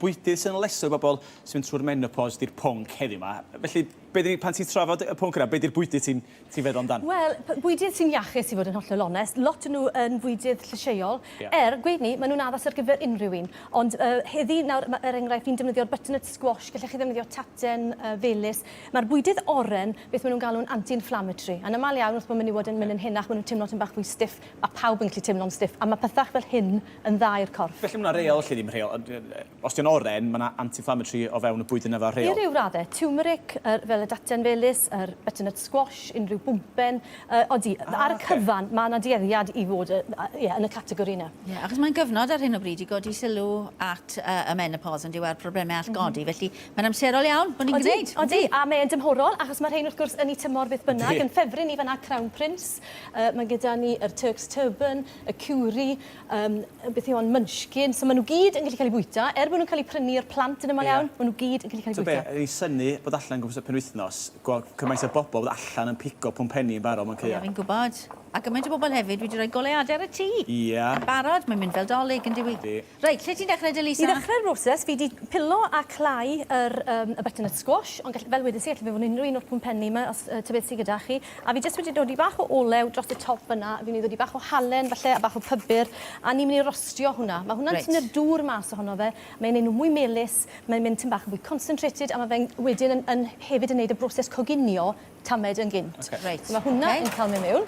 Bwydydd sy'n leso i bobl sy'n mynd trwy'r menopos 'di'r pwnc heddiw 'ma. Felly, be 'dyn ni... pan ti'n trafod y pwnc yna, be 'di'r bwydydd ti'n... ti'n feddwl amdan? Wel, p- bwydydd sy'n iachus i fod yn hollol onest. Lot o nhw yn fwydydd llysieuol. Ie. Er, gweud 'ny, ma' nhw'n addas ar gyfer unrhyw un. Ond, yy, heddi, nawr, ma', er enghraifft, fi'n defnyddio'r butternut squash, gellech chi ddefnyddio taten, yy, felys. Ma'r bwydydd oren, beth ma' nhw'n galw'n anti-inflammatory. Yn amal iawn, wrth bo' menywod yn mynd yn henach, ma' nhw'n timlo tym bach fwy stiff. Mae pawb yn gallu teimlo'n stiff a mae pethau fel hyn yn dda i'r corff. Felly mae 'na reol, felly ddim rheol. Os 'di o'n oren, mae 'na anti-inflammatory o fewn y bwyd yna fel rheol. I ryw raddau. Tiwmeric, yr, fel y datian felys, yr butternut squash, unrhyw bwmpen. Yy, odi, ar y cyfan, mae 'na dueddiad i fod, yy, ie, yn y categori yna. Ie, achos mae'n gyfnod ar hyn o bryd i godi sylw at, yy, y menopos, yndyw e, a'r problemau all godi, felly mae'n amserol iawn bod ni'n gwneud. Odi, odi, a mae e'n dymhorol, achos mae'r rhein, wrth gwrs, yn eu tymor beth bynnag. Yn Ffefryn ni fan'na, Crown Prince, Yy mae gyda ni yr Turks Turban, y Cewri, yym beth yw hon, Munchkin, so ma' nhw gyd yn gallu cael eu bwyta, er bod nhw'n cael eu prynu o'r plant yn aml iawn. Ie. Ma' nhw gyd yn gallu cael eu bwyta. T'bo' be' o'n i'n synnu bod allan yn gwmpas y penwythnos, gweld cymaint o bobl fod allan yn pigo pwmpenni yn barod mewn caeau. Ie fi'n gwbod. A gymaint o bobl hefyd wedi rhoi goleuade ar y tŷ. Ie. Yn barod, mae'n mynd fel 'Dolig, yn dyw 'i? Ydi. Reit, lle ti'n dechrau de, Lisa? I ddechrau'r broses, fi 'di pilo a clau yr yym y butternut squash, ond gell- fel wedes i, gelle fe fod yn unrhyw un o'r pwmpenni 'ma, os yy ta beth sy gyda chi. A fi jyst wedi dodi bach o olew dros y top fynna, fi myn' i ddodi bach o halen falle, a bach o pybur, a ni myn' i rostio hwnna. Ma' hwnna'n... Reit. ...tynnu'r dŵr mas ohono fe, mae'n neud nw mwy melys, mae'n mynd tym bach yn fwy concentrated, a ma' fe'n wedyn yn yn hefyd yn neud y broses coginio tamed yn gynt. Oce. Reit. Ma' hwnna... Oce. ...yn ca'l myn' miwn.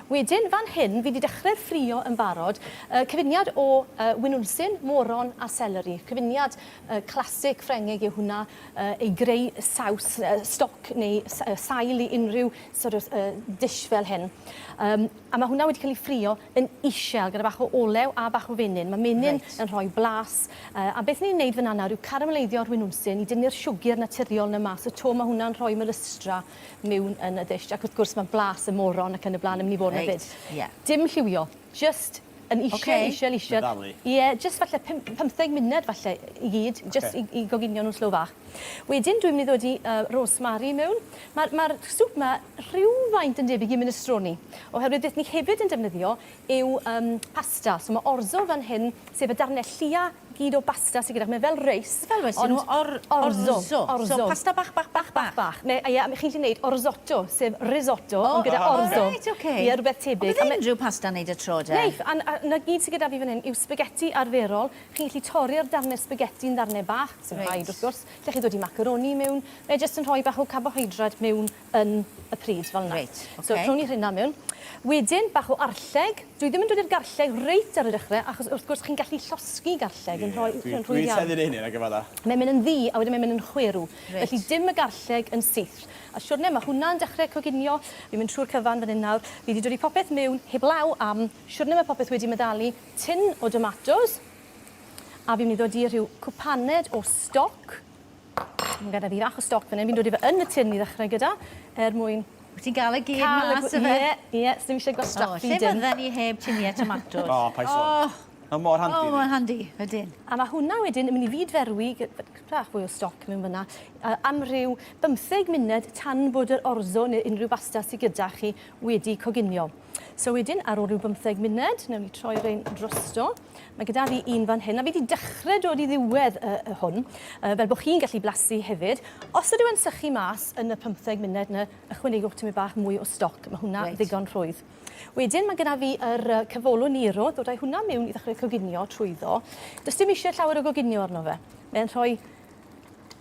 Wedyn fan hyn fi 'di dechre'r ffrio yn barod. Yy cyfuniad o yy winwnsyn, moron a seleri. Cyfuniad yy classic Ffrengig yw hwnna yy i greu saws yy stoc neu s- yy sail i unrhyw sort of yy dish fel hyn. Yym a ma' hwnna wedi ca'l 'i ffrio yn isel gyda bach o olew a bach o fenyn. Mae menyn... Reit. ...yn rhoi blas. Yy a beth ni'n neud fynna nawr yw caramaleiddio rwinwnsyn i dynnu'r siwgr naturiol 'na mas y to. Ma' hwnna'n rhoi melystra miwn yn y ddish ac wrth gwrs ma' blas y moron ac yn y bla'n yn myn' i fod 'na 'fyd. Reit, ie. Dim lliwio. Jyst yn isel... Ocê. ...isel isel. Meddalu. Ie, jyst falle pum- pymtheg munud falle i gyd. Ocê. Jyst i i goginio nw'n slow fach. Wedyn dwi'n mynd i ddod i uh, rosemary mewn. Mae'r ma swp yma rhywfaint yn debyg i minestrone, oherwydd beth ni hefyd yn defnyddio yw um, pasta. So mae orzo fan hyn, sef y darnau llia gyd o basta sydd gyda, mae fel reis. Fel reis, ond or, orzo. orzo. orzo. So pasta bach, bach, bach, bach. bach. Me, ia, chi'n gallu gwneud orzotto, sef risotto, oh, ond gyda oh, orzo. Oh, right, okay. Ia, rhywbeth tebyg. Ond bydd unrhyw pasta wneud y tro, de? Neith, a, a, na gyd sydd gyda fi fan hyn yw spaghetti arferol, Chi'n gallu torri'r darnau sbageti yn ddarnau bach, sy'n rhaid wrth gwrs, lle chi'n dod i macaroni mewn, mae jyst yn rhoi bach o carbohydrate mewn yn y pryd, fel 'na. So rhown ni rheina mewn. Wedyn, bach o arlleg. Dwi ddim yn dod i'r garlleg reit ar y dechrau, achos wrth gwrs chi'n gallu llosgi garlleg yn rhoi... Ie, dwi wedi tueddu i wneud hynny nag efallai. Mae'n mynd yn ddu, a wedyn mae'n mynd yn chwerw. Felly dim y garlleg yn syth. A siwrne, mae hwnna'n dechrau coginio. Fi'n mynd trwy'r cyfan fan hyn nawr. Fi 'di dodi popeth mewn heblaw am siwrne, mae popeth wedi meddalu. tin o domatos a fi'n mynd i ddod i rhyw cwpaned o stoc. Mae gyda fi fach o stoc fan hyn, fi'n dod i fe yn y tin i ddechrau gyda er mwyn... Wyt ti'n gael y gyd mas ife? Ie, ie, os ddim eisiau gwastraffu dim. O, lle fydden ni heb tinie tomatos? O, paid sôn. Mae mor handi. O, mae'n handi, ydyn. A mae hwnna wedyn yn mynd i fyd-ferwi, bach fwy o stoc mewn fanna, am ryw bymtheg munud tan bod yr orzo neu unrhyw basta sy gyda chi wedi coginio. So wedyn, ar ôl rhyw bymtheg munud, newn ni troi rhain drosto. Mae gyda fi un fan hyn, a fi wedi dechrau dod i ddiwedd y, y hwn, uh, fel bod chi'n gallu blasu hefyd. Os ydw yn sychu mas yn y pymtheg munud yna, ychwanegwch tymau bach mwy o stoc. Mae hwnna right. ddigon rhwydd. Wedyn mae gyda fi yr uh, cyfolo niro, dod â'i hwnna mewn i ddechrau coginio trwyddo. Does dim eisiau llawer o goginio arno fe. Mae'n rhoi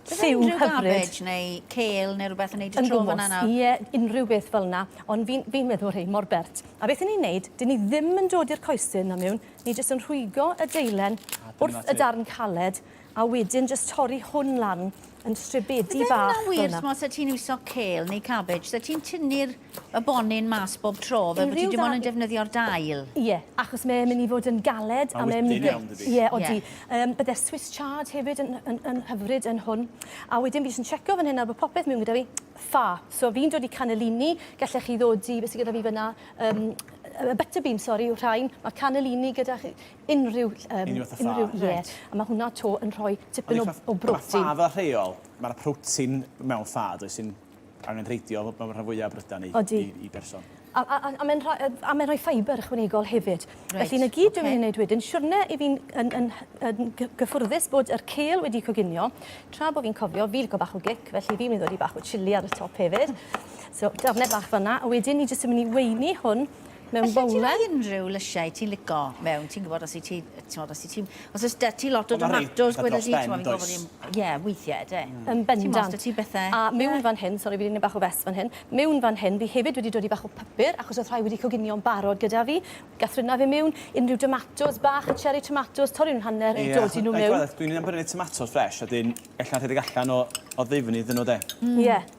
Lliw hyfryd. neu cêl neu rhywbeth yn neud y tro fyna nawr? Ie, unrhyw beth fel 'na, ond fi'n fi'n meddwl rhein mor bert. A beth 'yn ni'n neud, 'dyn ni ddim yn dod i'r coesyn na miwn, ni jyst yn rhwygo y deilen wrth y darn caled, a wedyn jyst torri hwn lan yn stribedi bach fel 'na. Yfe hwnna'n wir, t'mo' os o' ti'n iwso cêl neu cabbage, so ti'n tynnu'r y bonyn mas bob tro fel bod ti dim ond yn defnyddio'r dail. Ie, achos mae'n mynd i fod yn galed a mae'n mynd i... Mae'n wytyn iawn dydi? Ie, odi. Bydde Swiss chard hefyd yn hyfryd yn hwn. A wedyn fi jyst yn checo fan hyn nawr bod popeth mewn gyda fi. Ffa. So fi'n dod i cannellini, gallech chi ddod i, beth sydd gyda fi fyna, butter bean, sori, yw'r rhain. Mae cannellini gyda chi, unrhyw... Unrhyw fath o ffa. Unrhyw, ie. A mae hwnna 'to yn rhoi tipyn o brotein. Ond ffa fel rheol, mae'r protein mewn ffa, does, sy'n... angenrheidiol mewn rhan fwyaf o brydau neu i, i berson. A, a, a, a mae'n rhoi, a mae'n rhoi ffaibr ychwanegol hefyd. Right. Felly, na gyd okay. dwi'n gwneud wedyn, siwrne i fi'n yn, yn, yn, gyffwrddus bod yr cel wedi coginio, tra bod fi'n cofio, fi licio bach o gic, felly fi'n mynd i ddod i bach o chili ar y top hefyd. So, darnau bach fanna, a wedyn ni jyst yn mynd i weini hwn mewn bowlen. Allet ti roi unrhyw lysiau ti'n lico mewn, ti'n gwybod, os i ti, t'mod, os i ti, os oes da ti lot o domatos, gweda di, t'mod, fi'n gwybod bod ni'n, ie, weithiau, ydy. Hmm. Yn bendant. T'mod, os da ti bethau... A mewn fan hyn, sori, fi wedi neud bach o fess fan hyn, mewn fan hyn, fi hefyd wedi dodi bach o papur, achos oedd rhai wedi coginio'n barod gyda fi, ga'th Rhuna fe mewn, unrhyw domatos bach, y cherry tomatos, torri nhw'n hanner, a dodi nhw mewn. Ie, dwi'n iawn prynu tomatos fresh, a wedyn, ella rhedeg allan o, o ddifn iddyn nhw, de? Hmm. Ie.